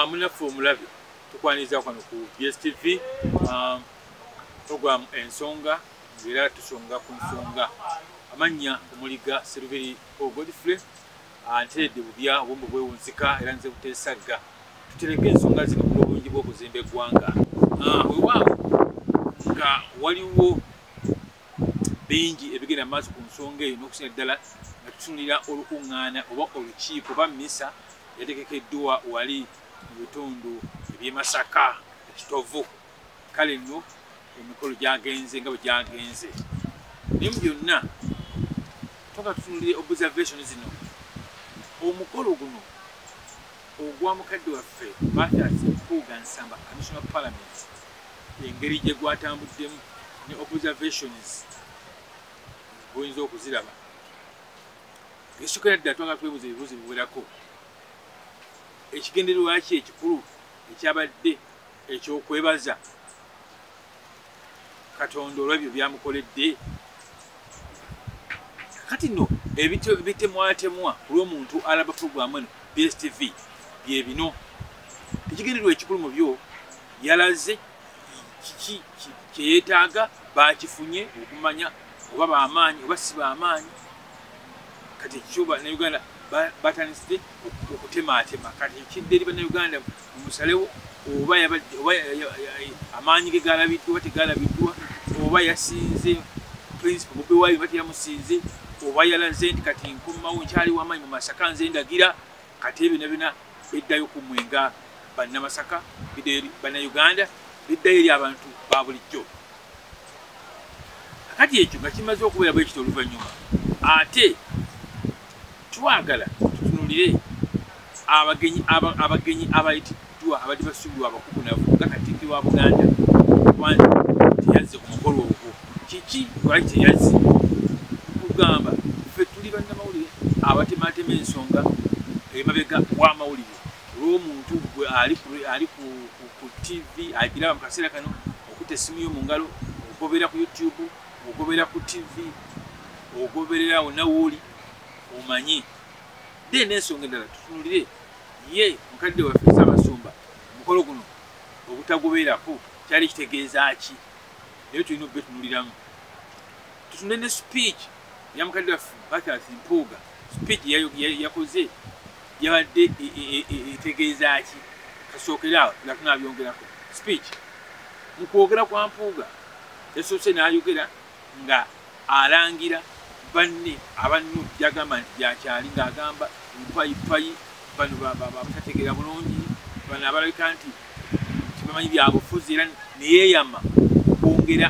munaffe ah, omulabi tukwaniriza kwano ku bstv ah, program ensonga ngaera tusonga ku nsonga amannya omuliga serubiri o godfrey ah, nteredde bubya obwombo bwewunzika era nze butesagga tutereke ensonga zino ku lwobulungi bw'okuzimba eggwanga wewaawo nga waliwo bingi ebigenda maaso ku nsonga eyo n'okusinga ddala nga tutunulira olukuŋŋaana oba olukiiko oba misa yategekeddwa wali mu bitundu eby'e masaka ekitovu kale nno emikolo gyagenze nga bwe gyagenze naye mu byonna toka tutunulire observation zino omukolo guno ogwa mukadde waffe mathias mpuuga nsamba commissioner parliament engeri gye gwatambuddemu ne observations bwoyinza okuziraba esukira ddala twagala twebuuza ebibuuzo biwerako ekigendererwaki ekikulu ekyabadde ekyokwebaza katonda olwebyo byamukoledde kati no ebitemwatemwa ku lwomuntu alaba puroguramu eno bstv byebino ekigendererwa ekikulu mu byo yalaze kiki kyeyetaaga bakifunye okumanya oba bamaanyi oba si bamaanyi kati ekyo banauganda batandiside okutemaatema kati ekidde eri banauganda omusalewo oba amaanyi ge galabiddwa oba tegalabiddwa oba yasinze principal bobi wayi oba teyamusinze oba yalaze nti kati nkomawo nkyali wamaanyi mu masaka nze ndagira kati ebina bina biddayo ku mwe nga bannamasaka biddayo eri bannayuganda biddayo eri abantu ba bulijjo kakati ekyo nga kimaze okubeera bwekiti oluvannyuma ate twagala tutunulire abagenyi abagenyi abayiti Batuukiddwa abadde basuubirwa abakukunavu nga Katikkiro wa Buganda Wanja teyazze ku mukolo ogwo. Kiki lwaki teyazze? Kugamba ffe tuli bannamawulire abatemaatema ensonga emabega w'amawulire olw'omuntu gwe ali ku ttivi agiraba mu kaseera kano okuta essimu yo mu ngalo ogoberera ku youtube ogoberera ku ttivi ogoberera wonna wooli omanye then ensonga endala tutunulire ye mukadde waffe Ssaabasumba omukolo guno obutagubeerako kyali kitegeeza ki naye tulina okubetunuliramu tutunde ne speech ya mukadde waffe Bathas Mpuuga speech yakoze yabadde e, e, e, etegeeza ki kasookere awo nga tunabyongerako speech mu kwogera kwa Mpuuga yasoose n'ayogera nga alangira banne aba nup gyagamba nti gyakyali ngaagamba mpayippayi bano batategeera bulungi bano abalabika nti tibamanyi byabufuzi era neyeyama okwongera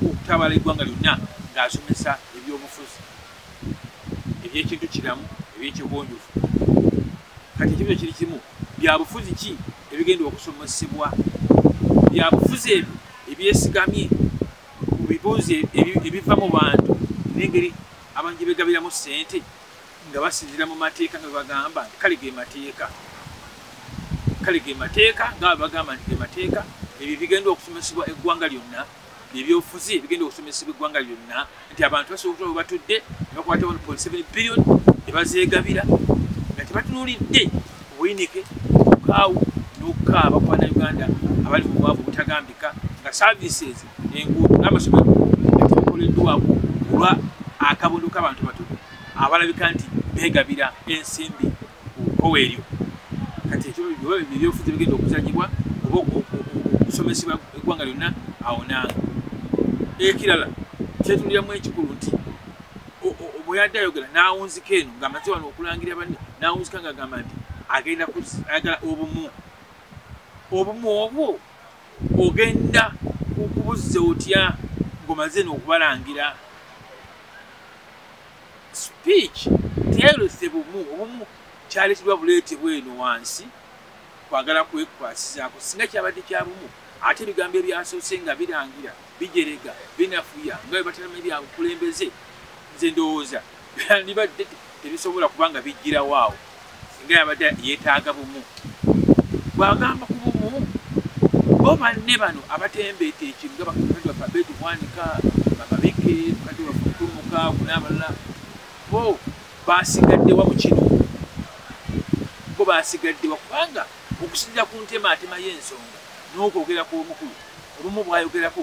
okutabala eggwanga lyonna ngaasomesa ebyobufuzi ebyekintu kiramu ebyekigonjofu kati ekibuzo kiri kimu byabufuzi ki ebigenda okusomesebwa byabufuzi ebyo ebyesigamye mu bibuuzo ebiva mu bantu nengeri abantu gye begabiramu ssente nga basinzira mu mateeka nga bebagamba nti kale ge mateeka kale ge mateeka nga bebagamba nti ge mateeka ebyo bigenda okusomesebwa eggwanga lyonna byebyobufuzi bigenda okusomesebwa eggwanga lyonna nti abantu basobola okutola webatudde nebakwata 1.7 billion nebazeegabira nga tebatunulidde obuyinike okukaawu n'okukaaba ku bana uganda abali mu bwavu obutagambika nga services enguudo n'amasomero gatibikoleddwako olwa akabondo k'abantu batudu abalabika nti beegabira ensimbi kkowe eryo kati ebyobufuzi bigenda okuzanyibwa oba okusomesebwa eggwanga lyonna awo nanga ekirala kyetundiramu ekikulu nti bweyadde ayogera nawunzika eno ngaamaze wano okulangira banne nawunzika nga agamba nti agenda ayagala obumu obumu obwo ogenda okubuzza otya ngomaze nokubalangira Speech teyayolese bumu obumu kyaleetebwa buleete bweno wansi kwagala kwekwasizaako singa kyabadde kya bumu ate ebigambo ebyasoose nga birangira bijerega binafuya nga bwe batalama ebya bukulembeze nze ndowooza byandibadde tebisobola kubanga bijjirawo awo singa yabadde yeetaaga bumu bwagamba ku bumu bo banne bano abatembeeta ekintu nga bakakati baffe abeeti bwanika bababike bakati baffe okutumuka kuna abalala bo basigaddewa mu kino bo basigaddewa kubanga okusinzira ku ntemaatema y'ensonga n'okwogera kw'omukulu obumu bwayogerako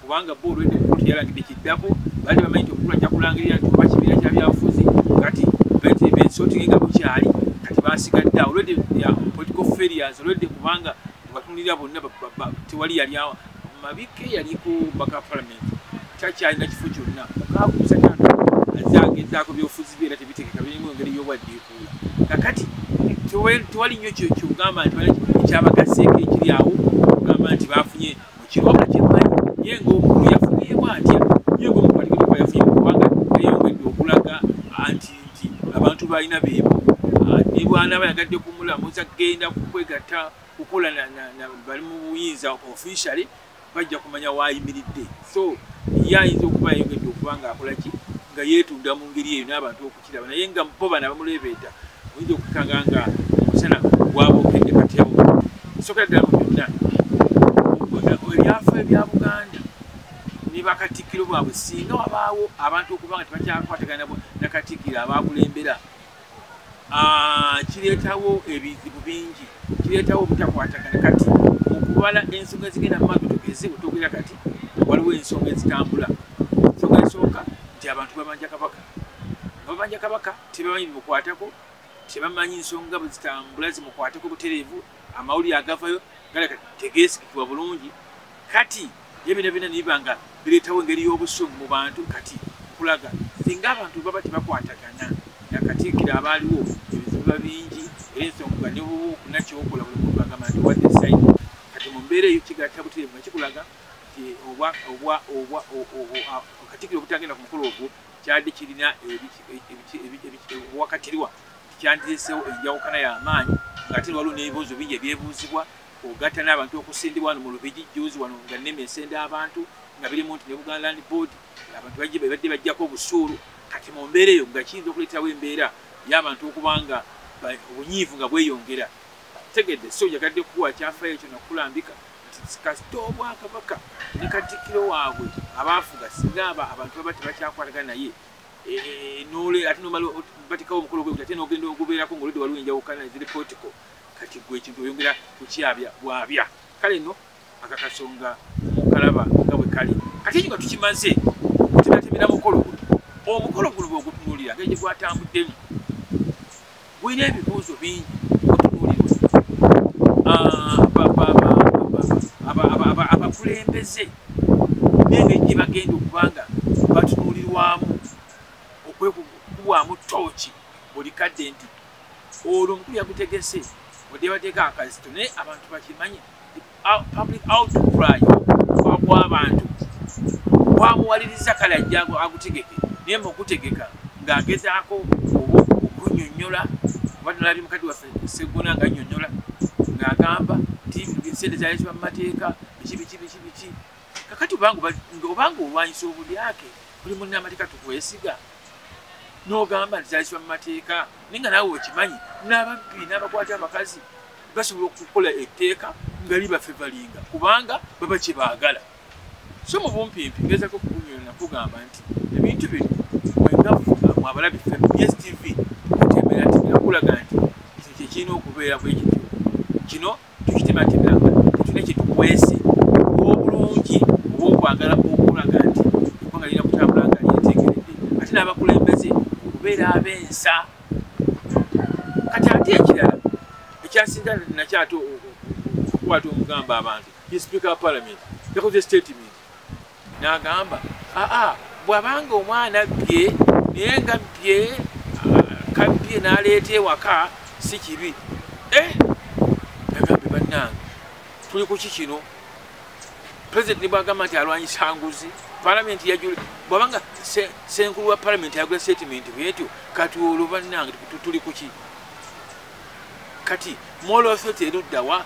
kubanga bo olwedde kkooti yalagidde kiddako bali bamanyi nti omukulu ajja kulangirira nti oba kibiina kya byabufuzi kati besotinge nga bukyali kati basigadde awo olwedde political failures olwedde kubanga batunulira bonna tewali yali mabike yaliko baka parliament takyalina kifo kyonna mukakusa kyana azagezaako byobufuzi bye era tebitegeka birimu engeri yobwaddiikuula kakati tewali nnyo kyogamba nti ekyabagasseeko ekiri awo ogamba nti bafunye kiwabula kyemanyi ye ngaomukulu yafunyemu atya ye ngaomukwatikidoka yafunye mukubanga yayongedde okulaga anti nti abantu balina beebo ah, nebwanaba yagadde kumulamuza kugenda kukwegatta kukola bali mu buyinza officially bajja kumanya waayimiridde so ye ayinza okuba yayongedde okuba nga akolaki nga yeetunda mu ngeri eyo n'abantu oku kiraba naye nga bo bana bamuleebeeta oyinza okukanga nga omusana gwabokedde kati yabo sokera ddala mu byonna ebyafa ebya buganda ne bakatikkiro bwabwe singa wabaawo abantu okuba nga tebakyakwatagana na katikkiro abakulembera ah, kireetawo ebizibu bingi kireetawo obutakwatagana kati okubala ensonga ezigenda mu maato tugeze otogera kati waliwo ensonga ezitambula ensonga esooka nti abantu babanja kabaka ababanja kabaka tebamanyi bimukwatako tebamanyi nsonga bwezitambula zimukwatako butereevu amawulire agavayo galeka tegeesigikibwa bulungi kati ebina bina niba nga bireetawo engeri y'obusungu mu bantu kati kulaga singa abantu baba tebakwatagana nga katiikira abaaliwo ebizibuba bingi era ensonga ne bwoba okuna kyokola buli muntu agamba nti wadde saidi kati mu mbeera eyo kigatta butereevu nga kikulaga katikiro obutagenda ku mukolo ogwo kyadde kirina ebiwakatirwa kyandiresewo enjawukana y'amaanyi ngaate waliwo n'ebibuuzo bingi ebyebuuzibwa ogatta n'abantu okusindibwa wano mu lubigi juuzi wano nga nema esenda abantu nga birimu nti ne buganda land board abantu bajje babadde bajjako obusuulu kati mu mbeera eyo nga kiyinza okuleetawo embeera y'abantu okuba nga obunyiivu nga bweyongera tegedde si ojagadde kuwa kyafayo ekyo nakulambika kasita obwakabaka ne katikkiro waabwe abaafuga singa aba abantu baba tebakyakwataga naye e, e, e, nole ate nomala batekawo omukolo gwe ate nogenda ogubeerako ngaoludde waliwo enjawukana eziri political kati gwe ekintu oyongera kukyabya bwabya kale no akakasonga kalaba nga bwe kali kati ekyo nga tukimaze tunatemera mukolo guno omukolo guno bwegutunuulira nga gye gwatambuddemu Wina ebibuuzo bingi abakulembeze nenge gye bagenda okubanga batunuulirwamu okwekubwamu tooki buli kadde nti olwo omukulu yagutegese odde bateeka akazito naye abantu bakimanye public outcry gw'abantu gwamuwaliriza kale ajja agutegeke naye mu okutegeka ng'agezaako oba okunyonyola oba nalabye mukadde waffe segona nga nyonyola ng'agamba nti sente zaleetebwa mu mateeka biki biki biki biki kakati obanga olwanyisa obulyake buli munna amateeka tukwesiga n'ogamba nti zaleetebwa mu mateeka naye nga naawe okimanyi n'ababbi n'abakwata abakazi basobola okukola etteeka nga libafevalinga kubanga baba kye baagala so mu bumpimpi ngezako okukunyona nakugamba nti ebintu bino mwegafuga mwabalabi fe dstv kutemera nti nakulaga nti kino kyekirina okubeera bwe kityo kino tukitematemera nga tetuna kyetukwese obulungi oba okwagala okulaga nti eggwanga lirina kutambula nga lyetegeredde ate n'abakulembeze okubeera ab'ensa kati ate ekirala ekyasinga nakyo ate okukwata omugamba abantu ye sipiika wa palamenti yakoze statement n'agamba aa bwabanga omwana bbye naye nga bbye kabbye n'aleeta ewaka si kibi eh? nagambe bannange tuli ku ki kino president bwagamba nti alwanyisa nguzi palamenti yajula bwabanga senkulu wa palamenti yagula statement bwetyo kati olwo bannange tuli kuki kati mola authority eruddawa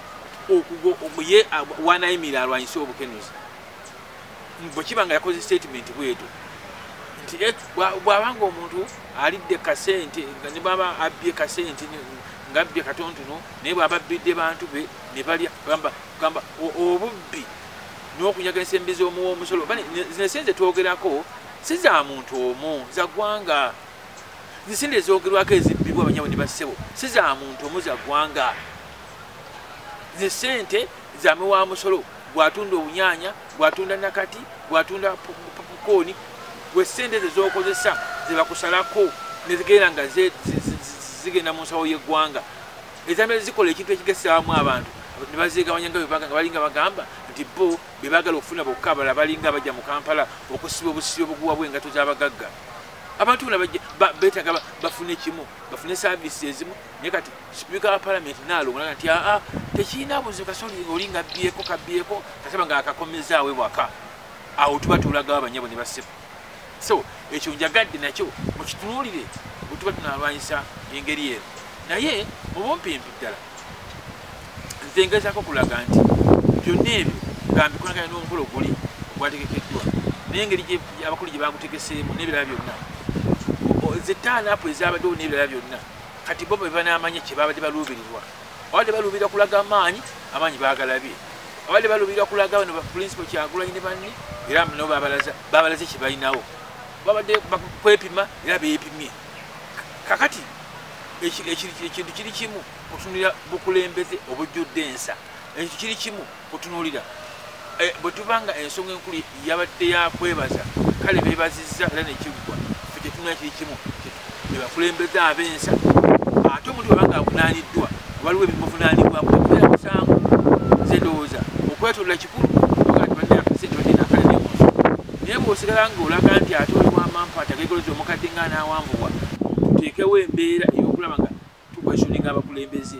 okuye wanayimira alwanyise obukenuzi bwekiba nga yakoze statement bwetyo nti eh, bwabanga omuntu alidde kasente nebaba abbye kasente ngabbye katontono naye bwaba abbidde bantu be nebalya gamba kugamba obubbi n'okunyaganisa embi z'omuwa omusolo bane zino esenze twogerako si za muntu omu za ggwanga zisente ezogerwako ezibbibwa abanyabo ne bassebo si za muntu omu za ggwanga zisente zame wa musolo gwatunda obunyanya gwatunda nakati gwatunda pukooni gwe sente ezo zokozesa zebakusalako nezigenda nga zigenda mu nsawo y'eggwanga Ezamira zikola ekintu ekigasaamu abantu ne bazeegabanya nga bebaga nga balinga bagamba nti bo be baagala okufuna bokka abala balinga abajja mu kampala okusiba obusibi obuguwa bw'engato z'abagagga abantu bona beetaga bafune kimu bafune saavisi ezimu naye kati sipiika wa palamenti naalongolaga nti aa tekirina buzibu kasoli oli nga byeko kabyeko kasaba nga akakomezaawe waka awo tuba tulagawo abanyabo ne basiba so ekyo njagadde nakyo mukitunuulire bwe tuba tunalwanyisa engeri eno naye mubumpimpi ddala nze ngezako okulaga nti byonna ebyo nga mbikolagana n'omukolo guli ogwategekeddwa nengeri abakulu gye bagutegeseemu n'ebirala byonna zetaanaapu ezabaddewo n'ebirala byonna kati bo bebanaamanya kye babadde baluubirirwa abadde baluubira kulaga amaanyi amaanyi baagalabye abadde baluubira kulaga bano bapulinsipo kyagulanyi ne banne era no babalaza babalaze kye balinawo babadde kwepima era beepimye kakati ekintu kiri kimu otunulira bukulembeze obujjudde ensa ekintu kiri kimu kutunulira eh, bwe tuba nga ensonga enkulu yabadde yakwebaza kale bebaziza era nekiggwa fe kyetunula kiri kimu bebakulembeza abensa ate omuntu baba nga avunaniddwa waliwo ebimuvunanibwamu okubeera musango ze ndowooza okwetolola kikulu naye bwosigala nga olaga nti ate oliwamampa tagaigoloza omukadde nga anawambubwa teekewo embeera eyokulaba nga tukweshoninga abakulembeze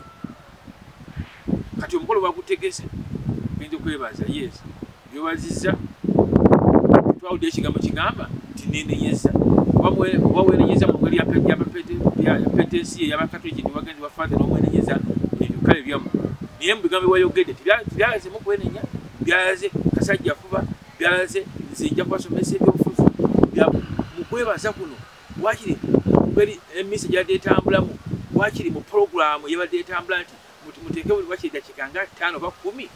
kati omukolo bagutegese genda okwebaza yes byobaziza twawudde ekigambo kigamba nti nenenyeza oba wenenyeza mu ngeri yapeta ensi eyabakatoliki niwagenzi wafaathe nomwenenyeza kale byamu naye mubigambo byewayogedde tibyalaze mukwenenya byalaze kasajja fuba byalaze nze nja kubasomesa ebyobufuzi mukwebaza kuno wakiri mungeri emisi gyadde etambulamu wakiri mu pulogulaamu yabadde etambula nti muteeke buli wakiri dakiika nga ttaano oba kumi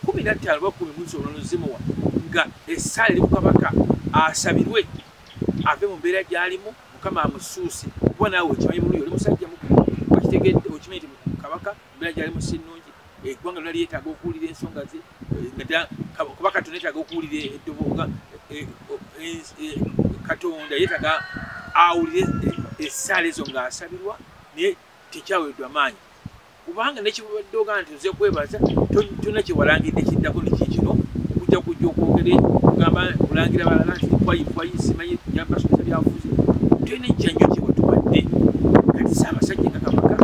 kumi nattaano oba kumi munsi olunozimuwa nga essaala eri ku kabaka asabirwe ave mu mbeera gyalimu mukama amusuuse kuba naawe okimanyi bulungi oli musajja mukulu okitegedde okimanyi nti kabaka embeera gyali mu sinnungi eggwanga lona lyetaaga okuwulira ensonga ze kuba katonda yetaaga okuwulira eddobooga katonda yetaaga awulire essaala ezo ng'asabirwa naye tekyaweddwa maanyi kubanga nekibubadde ogaa nti oze kwebaza kyonna kyewalangidde kiddako nekiikino kujja kujja okwogere kugamba kulangira balala nti kwayi kwayi simanyi yabasomesa byabufuzi tulina ekya nnyo kyewatuwadde kati si abasajja nga kabaka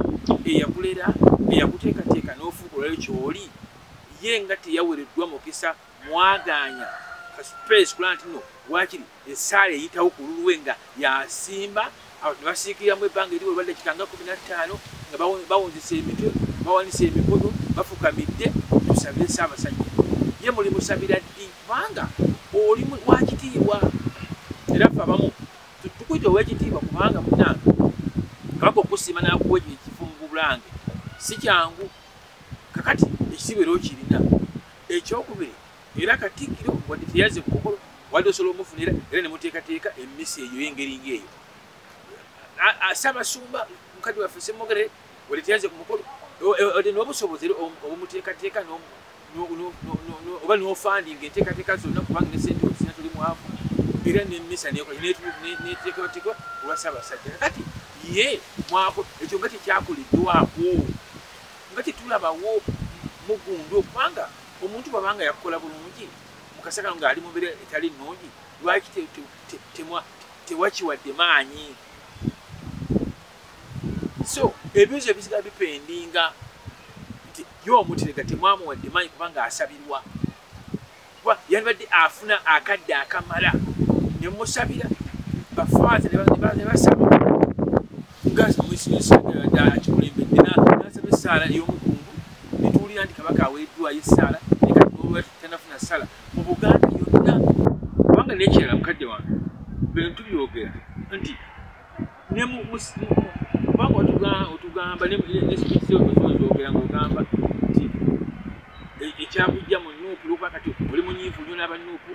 eyakulera eyakuteekateeka n'ofuuka olwayo kyoli ye nga teyawereddwa mukisa mwagaanya kasupesi kulaba nti no waakiri esaala eyitawo ku lulwe nga yasimba ne basiikiriramu ebbanga eri olwadde kitanga kumi na ttaano nga bawunzisa emitwe bawanisa emikono bafukamidde tusabire saabasajja ye muli musabira ddi kubanga oli wakitiibwa era fe abamu tukuita owekitiibwa kubanga munange kabaka okusiima nakuwa ekyo ekifo mu bulange si kyangu kakati ekitiibwa era okirina ekyokubiri Era Katikkiro wadde teyazze ku mukolo wadde osobola omufunira era ne muteekateeka emmisa eyo ey'engeri ng'eyo. Ssaabasumba mukadde waffe Ssemwogerere wadde teyazze ku mukolo wadde n'obusobozi era obumuteekateeka oba n'ofandinga enteekateeka zonna kubanga ne ssente okusina tuli mwavu era n'emmisa neteekateekwa olwa Ssaabasajja. Kati ye mwako ekyo nga tekyakoleddwako nga tetulabawo mugundu okubanga omuntu bwaba nga yakukola bulungi mukasa kano ngaali mubere etali nungi lwaki tewakiwadde maanyi so ebizo ebisigala bipendinga nti ye omutirega temwamuwadde maanyi kubanga asabirwa kuba yandibadde afuna akadde akamala nemusabira bafaaza nebasaba mugazi mwesinyisadala kikulembedde nasaba essaala ey'omukungu netuwulira nti kabaka aweeddwayo essaala nekatnolwaki tanafuna ssala mu buganda yonna kubanga nekirala mukadde wange bino tubyogera nti kubanga otugamba nesbitizoogera ngaogamba nti e, ekyakujja mu nuupu lwokuba kati oli munyiivu nyo n'abanuupu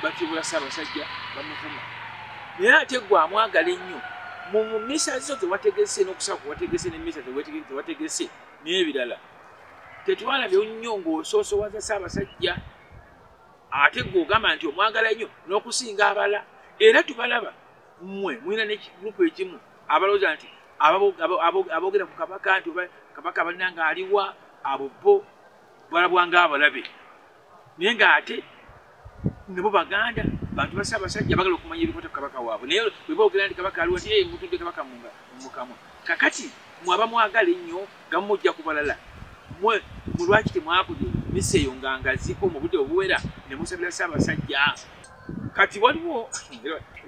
bakibula ssaabasajja bamuvuma naye ate gwe amwagala ennyo mu misa zo tewategese n'okusaba kwewategese ne misa tewategese n'ebirala tetwalabye nnyo ng'osoosowaza ssaabasajja ate gwe ogamba nti omwagala nnyo n'okusinga abala era tubalaba mmwe mulina ne gurupu ekimu abalowooza nti aboogera ku kabaka nti kabaka banna ng'aliwa abo bo balabwa ng'abalabe naye nga ate nabo baganda bantu basa abasajja bagala okumanya ebikwata ku kabaka waabwe naye weba ogera nti kabaka aliwo nti mutudde kabaka mumukamwa kakati mwaba mwagala ennyo nga mumujja ku balala mwe mulwaki temwabude misa eyo nga ngaziko mu budde obuwera ne musabira sa abasajja kati waliwo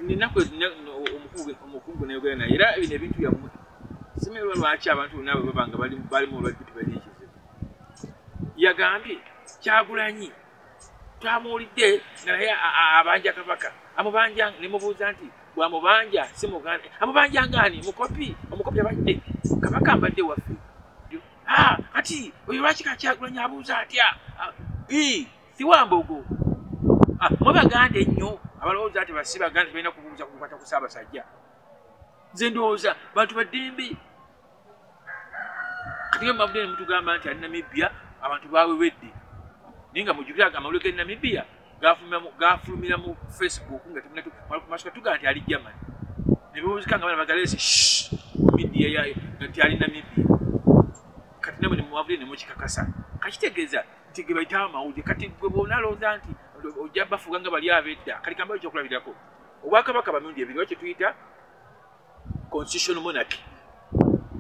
ninaku omukungu nayogera naye era bino ebintu byammwe simerwa lwaki abantu bonna bwe baba nga balimu badde balina ekizibu yagambye kyagulanyi twamuwulidde nga naye abanja kabaka amubanja nemubuuza nti bwamubanja simuganda amubanja ngaani mukopi omukopi abadde kabaka mbadde waffe ah, kati oyo lwaki kakyagulanyi abuuza atya ah, siwambogo ah, mwe baganda ennyo abalowooza nti basi baganda balina kubuuza kukwata ku saabasajja nze ndowooza bantu baddembe atinga mubabudde nemutugamba nti ali namibia abantu bawewedde naye nga mujukira amawulire ge namibia gafulumira mu facebook nga temasuka tugaa nti ali german nebewuzika nga bana bagalesi midia yayo nti ali namibia kati namwe nemubabudde nemukikakasa kakitegeeza nti gebaita amawulire kati gwe bona alowooza nti ojja bafuga nga bali abedda kati kamba ekyokulabirako obwakabaka bamirundi ebiri wa kyetuyita constitutional monarchy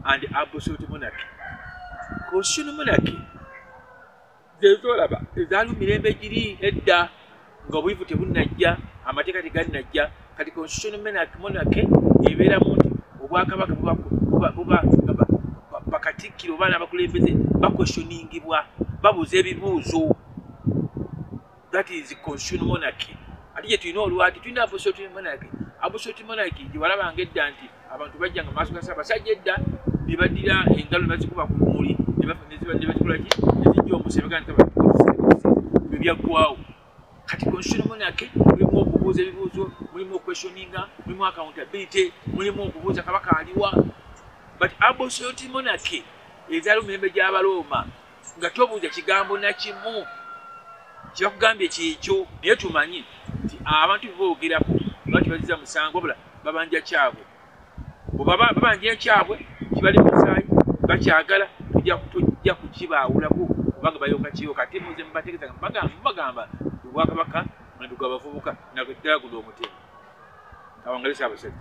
and absolute monarchy constitutional monarchy zezolaba ezaaliwo mirembe giri edda nga obuyivu tebunnajja amateeka tegalinajja kati constitutional monarchy ebeera mu nti obwakabaka buba bakatikkiro oba n'abakulembeze bakwesoningibwa babuuza ebibuuzo that is constitutional monarchy ate gye tulina olwaki tulina absolute monarchy absolute monarchy gye walabanga edda nti abantu bajja nga maaso gasa abasajja edda ne baddira engalo ne bazikuba ku bumuli ne bazikola ki ne zijja omusebega nti bwe byaggwawo kati constitutional monarchy mulimu okubuuza ebibuuzo mulimu okweshoninga mulimu accountability mulimu okubuuza kabaka aliwa but absolute monarchy ezaali mu mirembe gy'abalooma nga tobuuza kigambo nakimu kyebakugambye kyekyo naye tumanyi nti abantu beboogerako batibaziza musango wabula babanja kyabwe bwebaba babanja ekyabwe kibali musaayi bakyagala tujja kukibaawulako kubanga bayoka kiyoka ate muze mubategeza mubagamba obwakabaka mandu gwa bavubuka naddala guno omutemu awangalisa abasajja